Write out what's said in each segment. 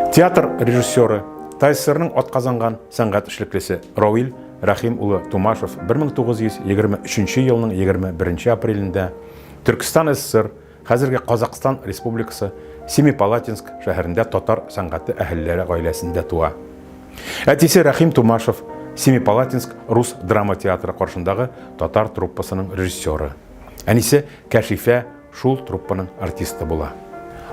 Театр режиссеры Тайсырның атказанган сәнгать эшлеклесе Рауил Рахим улы Тумашев 1923 елның 21 апрелендә Төркстан СССР, хәзерге Казакстан Республикасы, Семипалатинск шәһәрендә татар сәнгате әһелләре гаиләсендә туа. Әтисе Рахим Тумашев Семипалатинск рус драма театры каршындагы татар труппасының режиссеры. Әнисе Кәшифә шул труппаның артисты була.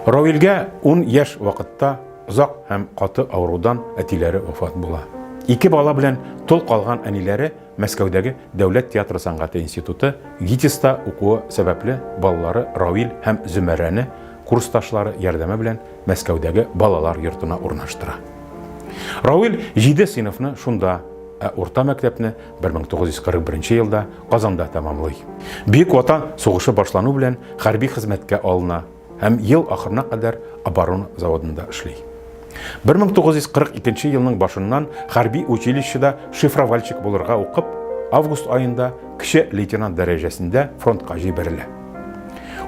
Равилгә ун яшь вакытта озак һәм каты авырудан әтиләре вафат була. Ике бала белән тол калган әниләре Мәскәүдәге дәүләт театры сәнгате институты, ГИТИСта укуы сәбәпле балалары Равил һәм Зөмәрәне курсташлары ярдәме белән Мәскәүдәге балалар йортына урнаштыра. Равил җиде сыйныфны шунда, ә урта мәктәпне 1941 елда Казанда тәмамлый. Бөек Ватан сугышы башлану белән хәрби хезмәткә алына һәм ел ахырына кадәр оборона заводында эшли. 1942 елның башыннан хәрби училищеда шифровальщик булырга укып, август аенда кече лейтенант дәрәҗәсендә фронтка җибәрелә.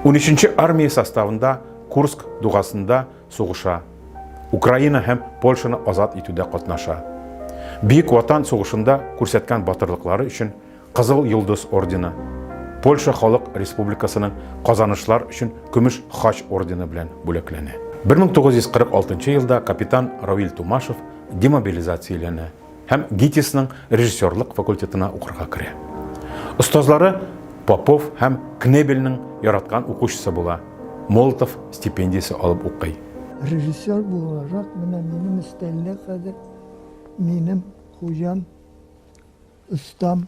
13 армия составында Курск дугасында сугыша, Украина һәм Польшаны азат итүдә катнаша. Бөек Ватан сугышында күрсәткән батырлыклары өчен Кызыл Йолдыз ордены, Польша Халык Республикасының казанышлар өчен Көмеш Хач ордены белән бүләкләнә. 1946 елда капитан Равиль Тумашев демобилизацияләнә. һәм ГИТИСның режиссерлык факультетына укырга керә. Остазлары Попов һәм Кнебельның яраткан укучысы була, Молотов стипендиясе алып укый. Режиссер буларак менә минем өстәлдә хәзер минем хуҗам, остам,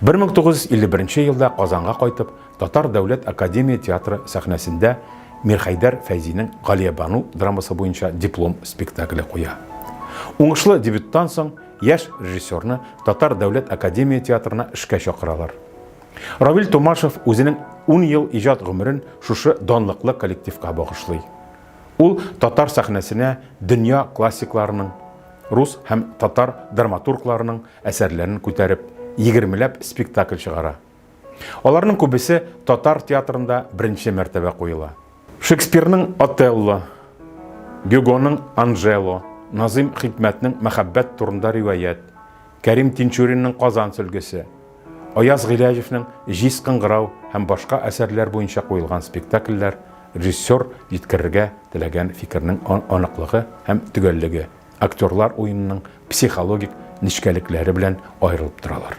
1951 елда Казанга кайтып, Татар дәүләт академия театры сәхнәсендә Мирхәйдәр Фәйзинең Галиябану драмасы буенча диплом спектакле куя. Уңышлы дебюттан соң яшь режиссерны Татар дәүләт академия театрына эшкә чакыралар. Равил Томашев үзенең 10 ел иҗат гомерен шушы данлыклы коллективка багышлый. Ул татар сәхнәсенә дөнья классикларының, рус һәм татар драматургларының әсәрләрен күтәреп, егермеләп спектакль чыгара. Аларның күбесе татар театрында беренче мәртәбә куела. Шекспирның Отелло, Гюгоның Анжело, Назыйм Хикмәтнең Мәхәббәт турында риваять, Кәрим Тинчуринның Казан сөлгесе, Аяз Гыйләҗевнең Җиз кыңгырау һәм башка әсәрләр буенча куелган спектакльләр режиссер җиткерергә теләгән фикернең аныклыгы һәм төгәллеге, актерлар уенының психологик нечкәлекләре белән аерылып торалар.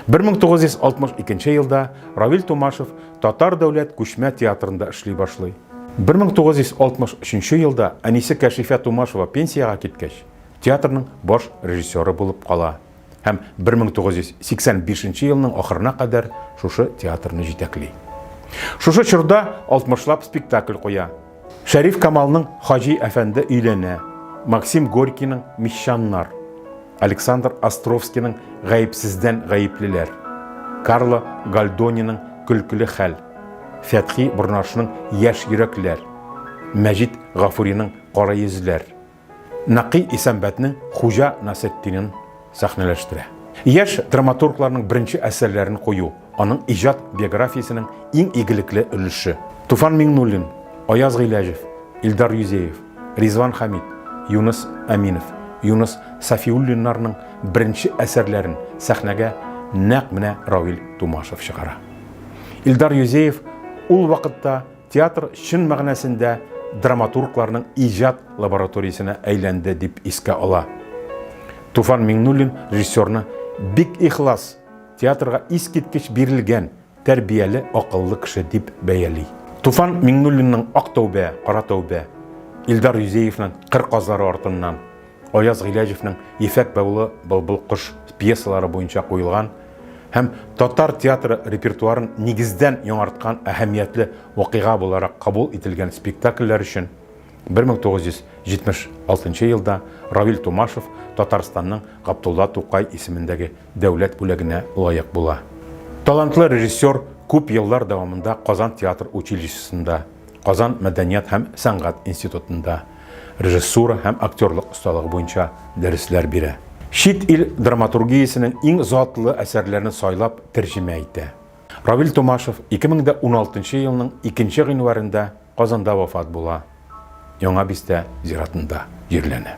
1962 елда Равил Тумашев Татар дәүләт күчмә театрында эшли башлый. 1963 елда әнисе Кәшифә Тумашева пенсиягә киткәч, театрның баш режиссеры булып кала. һәм 1985 елның ахырына кадәр шушы театрны җитәкли. Шушы чорда алтмышлап спектакль куя. Шәриф Камалның Хаҗи әфәнде өйләнә, Максим Горькийның Мещаннар, Александр Островскийның Гаепсездән гаеплеләр, Карло Гальдониның Көлкеле хәл, Фәтхи Борнашның Яшь йөрәкләр, Мәҗит Гафуриның Кара йөзләр Нәкый Исәнбәтне Хуҗа Насетдинин сәхнәләштерә. Яшь драматургларның беренче әсәрләрен кую, аның иҗат биографиясенең иң игелекле өлеше. Туфан Миңнуллин, Аяз Гыйләҗев, Илдар Юзеев, Ризван Хәмит, Юныс Әминов, Юныс Сафиуллиннарның беренче әсәрләрен сәхнәгә нәкъ менә Равил Тумашев чыгара. Илдар Юзеев ул вакытта Театр чын мәгънәсендә драматургларның иҗат лабораториясенә әйләнде, дип искә ала. Туфан Миңнуллин режиссерны бик ихлас, театрга искиткеч бирелгән, тәрбияле, акыллы кеше дип бәяли. Туфан Миңнуллинның Ак тәүбә, Кара тәүбә, Илдар Юзеевның Кыр казлары артыннан, Аяз Гыйләҗевнең Ефәк бәулы былбыл кош пьесалары буенча куелган һәм татар театры репертуарын нигездән яңарткан әһәмиятле вакыйга буларак кабул ителгән спектакльләр өчен 1976 елда Равил Тумашев Татарстанның Габдулла Тукай исемендәге дәүләт бүләгенә лаек була. Талантлы режиссер күп еллар дәвамында Казан театр училищесында, Казан мәдәният һәм сәнгать институтында режиссура һәм актерлык осталыгы буенча дәресләр бирә. Чит ил драматургиясенең иң затлы әсәрләрен сайлап тәрҗемә итә. Равил Томашев 2016 елның икенче гыйнварендә Казанда вафат була, Яңа Бистә зиратында җирләнә.